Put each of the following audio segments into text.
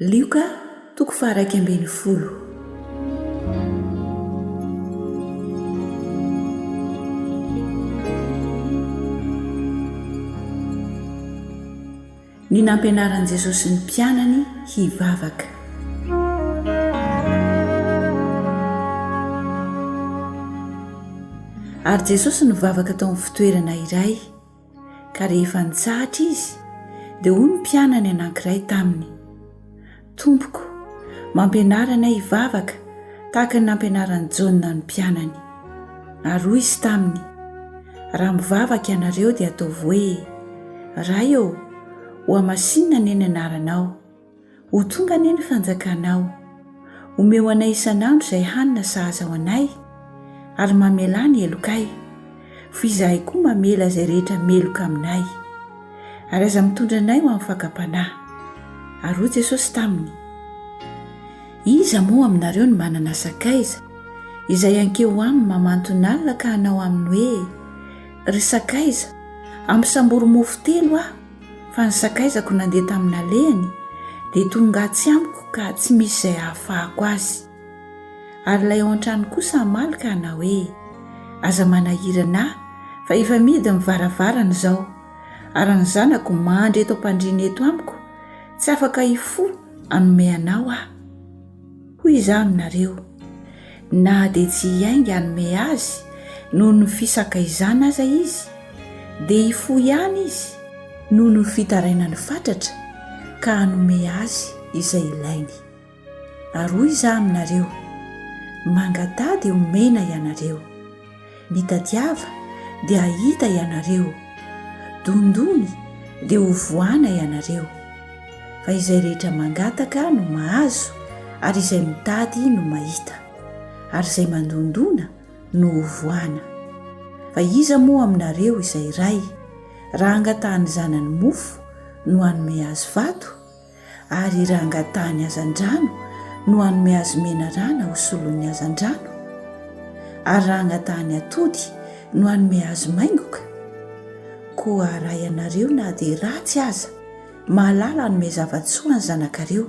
Lioka toko faharaika ambin'ny folo. Ny nampianaran'i Jesosy ny mpianany hivavaka. Ary Jesosy nivavaka tao amin'ny fitoerana iray. Ka rehefa nitsahatra izy, dia hoy ny mpianany anankiray taminy, Tompoko, mampianara anay hivavaka tahaka ny nampianaran'i Jaona ny mpianany. Ary hoy izy taminy, Raha mivavaka ianareo dia ataovy hoe, Ray ô, hohamasinina anie ny anaranao. Ho tonga anie ny fanjakanao. Omeo anay isan'andro izay hanina sahaza ho anay, ary mamelà ny helokay, f'ho izahay koa mamela izay rehetra meloka aminay. Ary aza mitondra anay ho amin'ny fakam-panahy. Ary hoy Jesosy taminy, Iza moa aminareo no manana sakaiza, izay hankeo aminy mamanton'alina ka hanao aminy hoe, Ry sakaiza, ampisambory mofo telo aho, Fa ny sakaizako nandeha tamin'alehany dia tonga atsy amiko ka tsy misy izay hahafahako azy. Ary ilay ao an-trano kosa hamaly ka hanao hoe, Aza manahirana ahy fa efa mihidy ny varavarana izao, ary ny zanako mandry eto am-pandriana eto amiko, tsy afaka hifoha hanome anao aho. Hoy Izaho aminareo, na dia tsy hiainga hanome azy noho ny fisakaizana aza izy, dia hifoha ihany izy noho ny fitarainany fatratra ka hanome azy izay ilainy. Ary hoy Izaho aminareo, Mangataha dia homena ianareo. Mitadiava, dia hahita ianareo, dondony, dia ho voana ianareo. Fa izay rehetra mangataka no mahazo, ary izay mitady no mahita, ary izay mandondona no ho voana. Fa iza moa aminareo izay ray, raha hangatahany zanany mofo, no hanome azy vato? ary raha angatahan'ny hazandrano no hanome azy menarana ho solon'ny hazandrano, ary raha angatahan'ny atody no hanome azy maingoka, koa raha ianareo na dia ratsy aza mahalala hanome zava-tsoa ny zanakareo,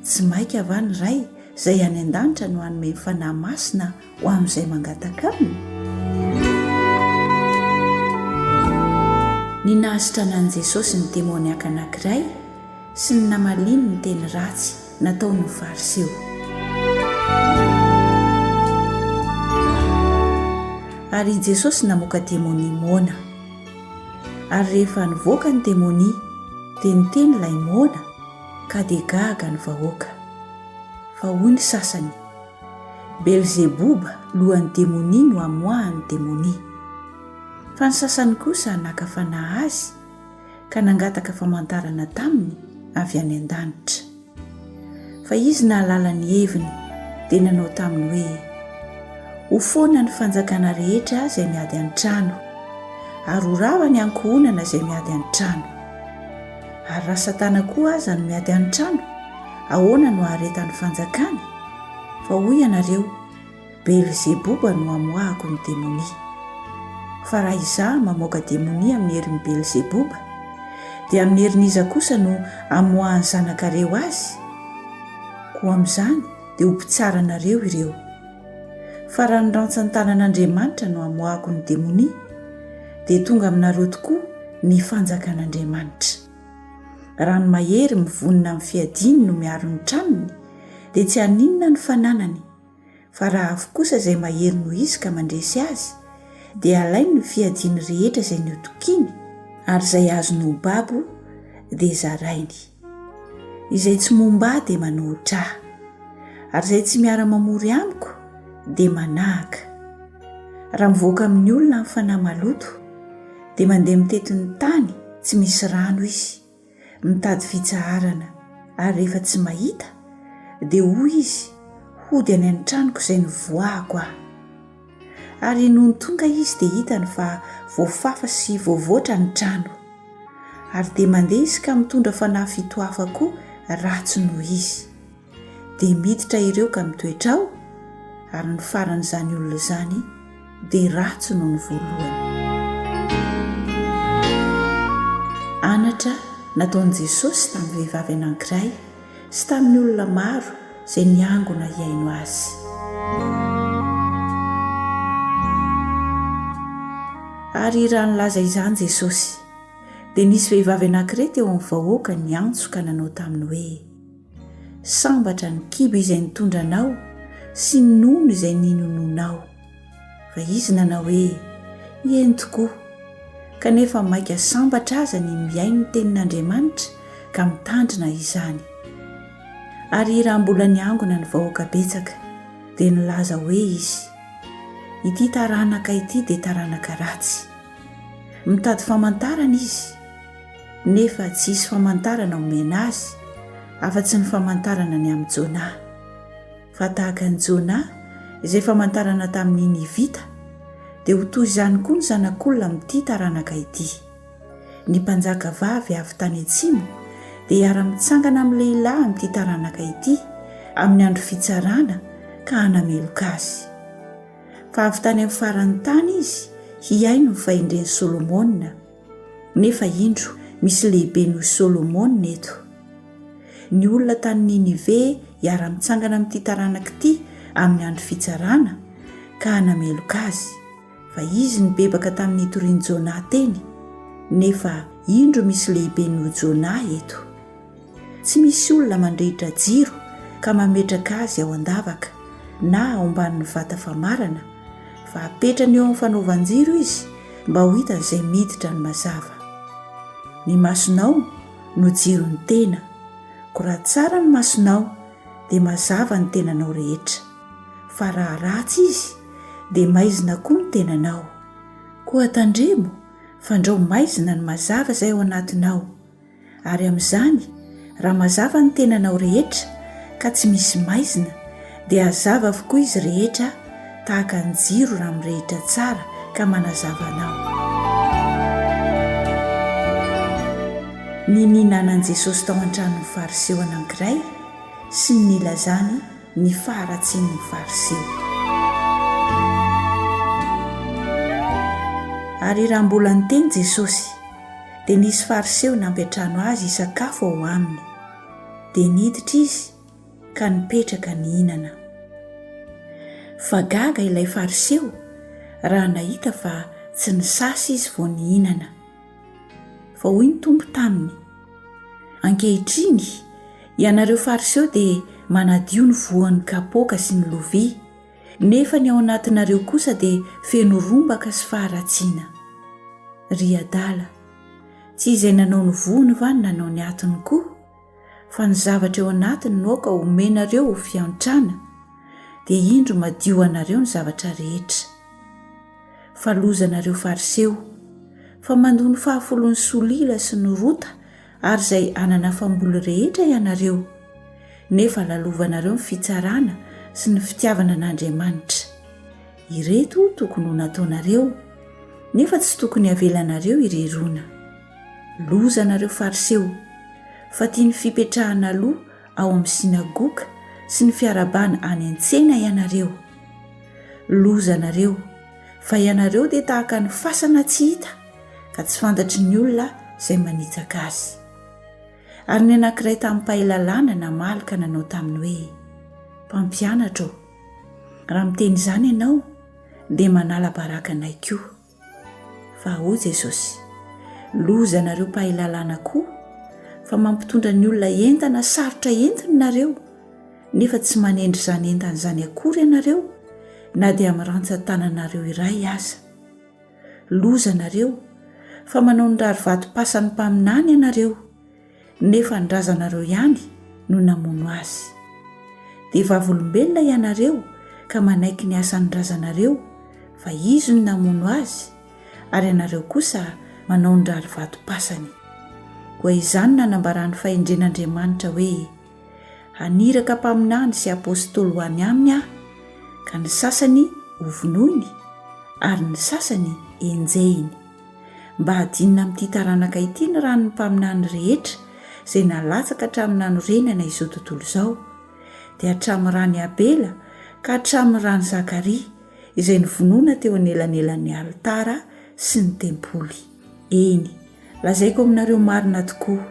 tsy maika va ny Ray izay any an-danitra no hanome ny Fanahy Masina ho amin'izay mangataka aminy? Ny nahasitrana an'i Jesosy ny demoniaka anankiray sy ny namaliany ny teny ratsy nataon'ny Fariseo. Ary i Jesosy namoaka demonia moana. Ary rehefa nivoaka ny demonia, dia niteny ilay moana, ka dia gaga ny vahoaka. Fa hoy ny sasany, Belzeboba, lohan'ny demonia no amoahan'ny demonia. Fa ny sasany kosa naka fanahy azy ka nangataka famantarana taminy avy any an-danitra. Fa izy nahalala ny heviny dia nanao taminy hoe, Ho foana ny fanjakana rehetra izay miady an-trano, ary ho rava ny ankohonana izay miady an-trano. Ary raha Satana koa aza no miady an-trano, Ahoana no haharetan'ny fanjakany? Fa hoy ianareo, Belzeboba no amoahako ny demonia. Fa raha izaho mamoaka demonia amin'ny herin'i Belzeboba, dia amin'ny herin'iza kosa no amoahan'ny zanakareo azy? Koa amin'izany dia ho mpitsara anareo ireo. Fa raha ny rantsan-tanan'Andriamanitra no amoahako ny demonia, dia tonga aminareo tokoa ny fanjakan'Andriamanitra. Raha ny mahery mivonona amin'ny fiadiany no miaro ny tranony dia tsy haninona ny fananany, fa raha avy kosa izay mahery no hisy ka mandresy azy dia alainy ny fiadiany rehetra izay niotokiany ary izay azony ho babo dia zarainy. Izay tsy momba ahy dia manohitra ahy, ary izay tsy miara-mamory amiko dia manahaka. Raha mivoaka amin'ny olona ny fanahy maloto, dia mandeha mitety ny tany tsy misy rano izy, mitady fitsaharana, ary rehefa tsy mahita, dia hoy izy, Hody any an-tranoko izay nivoahako aho. Ary nony tonga izy dia hitany fa voafafa sy voavoatra ny trano. Ary dia mandeha izy ka mitondra fanahy fito hafa koa ratsy noho izy. dia miditra ireo ka mitoetra ao, ary ny faran'izany olona izany dia ratsy noho ny voalohany. Anatra nataon'i Jesosy tamin'ny vehivavy anankiray sy tamin'ny olona maro izay niangona hihaino Azy. Ary raha nilaza izany Jesosy, dia nisy vehivavy anankiray teo amin'ny vahoaka niantso ka nanao taminy hoe, Sambatra ny kibo izay nitondra anao sy ny nono izay ninononao. Fa izy nanao hoe, Eny tokoa. Kanefa maika sambatra aza ny mihaino ny tenin'Andriamanitra ka mitandrina izany. Ary raha mbola niangona ny vahoaka betsaka, dia nilaza hoe izy, Ity taranaka ity dia taranaka ratsy. Mitady famantarana izy. nefa tsy hisy famantarana omena azy afa-tsy ny famantarana ny amin'i Jonah. Fa tahaka an'i Jonah izay famantarana tamin'ny Nivita, dia ho toy izany koa ny Zanak'Olona amin'ity taranaka ity. Ny mpanjaka vavy avy tany atsimo dia hiara-mitsangana amin'ny lehilahy amin'ity taranaka ity amin'ny andro fitsarana ka hanameloka azy. Fa avy tany amin'ny faran'ny tany izy hihaino ny fahendren'i Solomona. Nefa indro, misy lehibe noho i Solomona eto. Ny olona tany Ninive hiara-mitsangana amin'ity taranaka ity amin'ny Andro Fitsarana ka hanameloka azy, fa izy nibebaka tamin'ny nitorian'i Jonah teny, nefa indro misy lehibe noho Jonah eto. Tsy misy olona mandrehitra jiro ka mametraka azy ao an-davaka na ao ambanin'ny vata famarana, fa apetrany eo amin'ny fanaovan-jiro izy mba ho hitan'izay miditra ny mazava. Ny masonao no jiron'ny tena, koa raha tsara ny masonao dia mazava ny tenanao rehetra, fa raha ratsy izy dia maizina koa ny tenanao. Koa tandremo, fandrao maizina ny mazava izay ao anatinao. Ary amin'izany, raha mazava ny tenanao rehetra ka tsy misy maizina, dia hazava avokoa izy rehetra tahaka ny jiro raha mirehitra tsara ka manazava anao. Ny nihinanan'i Jesosy tao an-tranon'ny Fariseo anankiray sy ny nilazany ny faharatsian'ny Fariseo. Ary raha mbola niteny Jesosy, Dia nisy Fariseo nampiantrano Azy hisakafo ao aminy. Dia niditra Izy ka nipetraka nihinana. Fa gaga ilay Fariseo raha nahita fa tsy nisasa Izy vao nihinana. Fa hoy ny Tompo taminy, Ankehitriny, ianareo Fariseo dia manadio ny voan'ny kapoaka sy ny lovia, Nefa ny ao anatinareo kosa dia feno rombaka sy faharatsiana. Ry adala, tsy izay nanao ny vohony va no nanao ny atiny koa? Fa ny zavatra eo anatiny no aoka homenareo ho fiantrana, dia indro madio ho anareo ny zavatra rehetra. Fa loza anareo Fariseo, fa mandoa ny fahafolon'ny solila sy ny rota ary izay hanana famboly rehetra ianareo, nefa lalovanareo ny fitsarana sy ny fitiavana an'Andriamanitra. Ireto tokony ho nataonareo, nefa tsy tokony havelanareo irery ona. Loza anareo Fariseo, fa tia ny fipetrahana aloha ao amin'ny sinagoga sy ny fiarahabana any an-tsena ianareo. Loza anareo, fa ianareo dia tahaka ny fasana tsy hita, ka tsy fantatry ny olona izay manitsaka azy. Ary ny anankiray tamin'ny mpahay lalàna namaly ka nanao taminy hoe, Mpampianatra ô, raha miteny izany ianao, dia manala baraka anay koa. Fa hoy Jesosy, Loza anareo mpahay lalàna koa, fa mampitondra ny olona entana sarotra entiny ianareo, nefa tsy manendry izany entana izany akory ianareo, na dia amin'ny rantsan-tananareo iray aza. Loza anareo, fa manao ny rarivatom-pasan'ny mpaminany ianareo, nefa ny razanareo ihany no namono azy. Dia vavolombelona ianareo ka manaiky ny asan'ny razanareo, fa izy no namono azy, ary ianareo kosa manao ny rarivatom-pasany. Koa izany no nanambaran'ny fahendren'Andriamanitra hoe, Haniraka mpaminany sy apostoly ho any aminy aho, ka ny sasany hovonoiny, ary ny sasany henjehiny. Mba hadinina amin'ity taranaka ity ny ran'ny mpaminany rehetra izay nalatsaka hatramin'ny nanorenana izao tontolo izao, dia hatramin'ny ran'i Abela ka hatramin'ny ran'i Zakaria, izay novonoina teo anelanelan'ny alitara sy ny tempoly. Eny, lazaiko aminareo marina tokoa,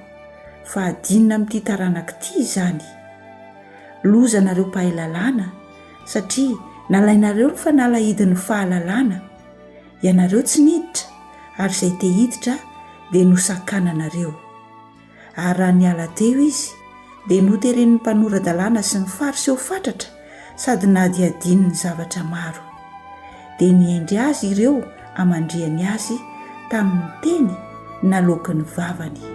fa hadinina amin'ity taranaka ity izany. Loza anareo mpahay lalàna, satria nalainareo ny fanalahidin'ny fahalalana. Ianareo tsy niditra, ary izay te-hiditra dia nosakananareo. ary raha niala teo izy dia noteren'ny mpanora-dalàna sy ny Fariseo ho fatratra sady nahadihadiany ny zavatra maro. Dia nihendry azy ireo hamandrihany azy tamin'ny teny naloaky ny vavany.